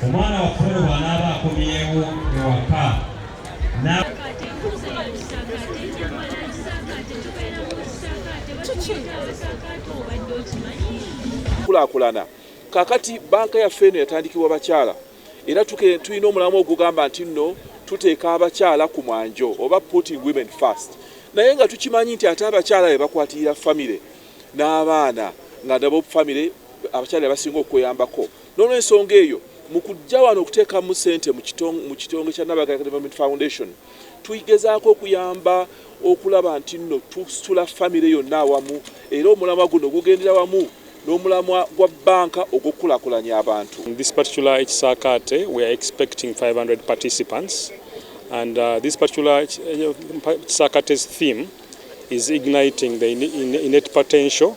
omwana waffe ono bw'anaaba akomyewo ewaka kulakulana kakati banka yaffe eno yatandikibwa bakyala era tulina omulamu ogugamba nti nno tuteeka abakyala ku mwanjo oba putting women first naye nga tukimanyi nti ate abakyala be bakwatirira famire n'abaana nga nabo famire abakyala be basinga okweyambako n'olwensonga eyo mu kujja wano okuteekamu ssente mu kitonge kya Nabagaya Development Foundation tugezaako okuyamba okulaba nti nno tusitula famire yonna awamu era omulamwa guno gugendera wamu n'omulamwa gwa bbanka ogw'okukulakulanya abantu this particular ekisaakaate we are expecting 500 participants and uh, this particular kisakate's theme is igniting the innate potential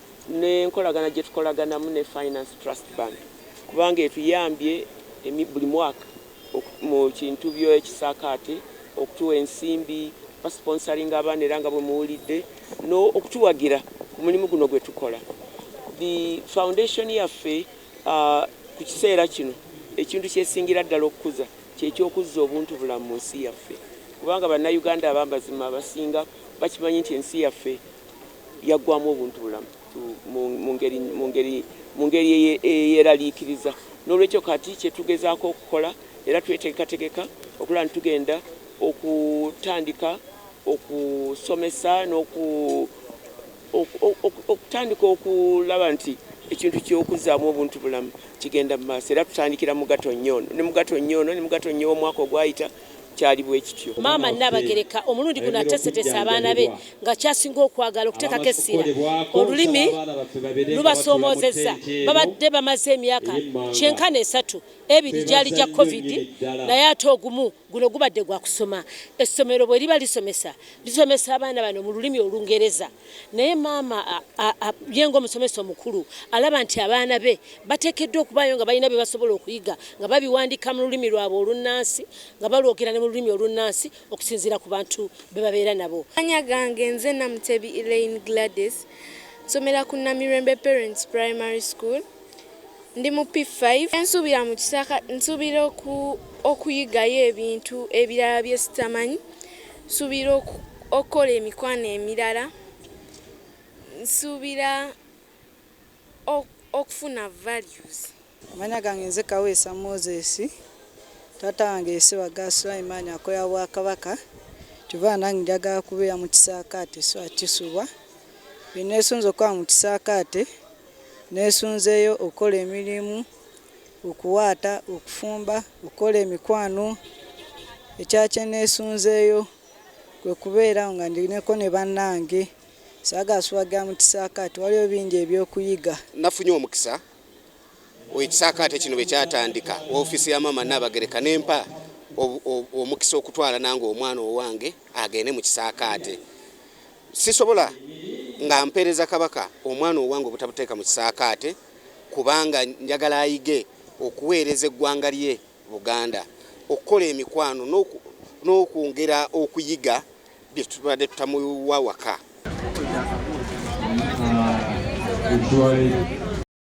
n'enkolagana gye tukolaganamu ne Finance Trust Bank kubanga etuyambye buli mwaka mu kintu by'ekisaakaate okutuwa ensimbi, basponsoringa abaana era nga bwe muwulidde n'okutuwagira ku mulimu guno gwe tukola. The foundation yaffe ku kiseera kino ekintu ky'esingira ddala okukuza kye ky'okuzza obuntubulamu mu nsi yaffe kubanga Bannayuganda ab'amazima abasinga bakimanyi nti ensi yaffe, yaggwaamu obuntubulamu mu ngeri eyeeraliikiriza. Noolwekyo kati kye tugezaako okukola era twetegekategeka okulaba nti tugenda okutandika okusomesa okutandika okulaba nti ekintu ky'okuzzaamu obuntubulamu kigenda mu maaso era tutandikira mu Gatonnya ono ne mu Gatonnya ono ne mu Gatonnya ow'omwaka ogwayita. kyali bwe kityo. Maama Nnaabagereka omulundi guno ateeseteese abaana be nga ky'asinga okwagala okuteekako essira. Olulimi lubasoomoozezza. Babadde bamaze emyaka kyenkana esatu, ebiri gyali gya Covid naye ate ogumu guno gubadde gwa kusoma. Essomero bwe liba lisomesa, lisomesa abaana bano mu lulimi Olungereza. Naye maama ye ng'omusomesa omukulu alaba nti abaana be bateekeddwa okubaayo nga balina bye basobola okuyiga nga babiwandiika mu lulimi lwabwe olunnansi nga balwogera ne mu lulimi olunnansi okusinziira ku bantu be babeera nabo. Amanya gange nze Namutebi Elaine Gladys, nsomera ku Namirembe Parents Primary School. Ndi mu P5 ensuubira mu kisaka nsuubira okuyigayo ebintu ebirala bye sitamanyi, nsuubira okukola emikwano emirala, nsuubira okufuna values. Amanya gange nze Kaweesa Moses, taata wange ye Ssebaggala Sulaiman akolera Bwakabaka kyova nange njagala kubeera mu kisaakaate so akisubwa bye neesunze okukola mu kisaakaate. Neesunzeeyo okukola emirimu, okuwaata, okufumba, okukola emikwano. Ekirala kye neesunzeeyo kwe kubeera awo nga ndiko ne bannange. Saagala suwagira mu kisaakaate, waliwo bingi eby'okuyiga. Nafunye omukisa ekisaakaate kino bwe kyatandika, woofiisi ya Maama Nnaabagereka n'empa omukisa okutwala nange omwana owange agende mu kisaakaate. Sisobola nga mpeereza Kabaka omwana owange obutabuteeka mu kisaakaate kubanga njagala ayige okuweereza eggwanga lye Buganda, okukola emikwano n'okwongera okuyiga bye tubadde tutamuwa waka.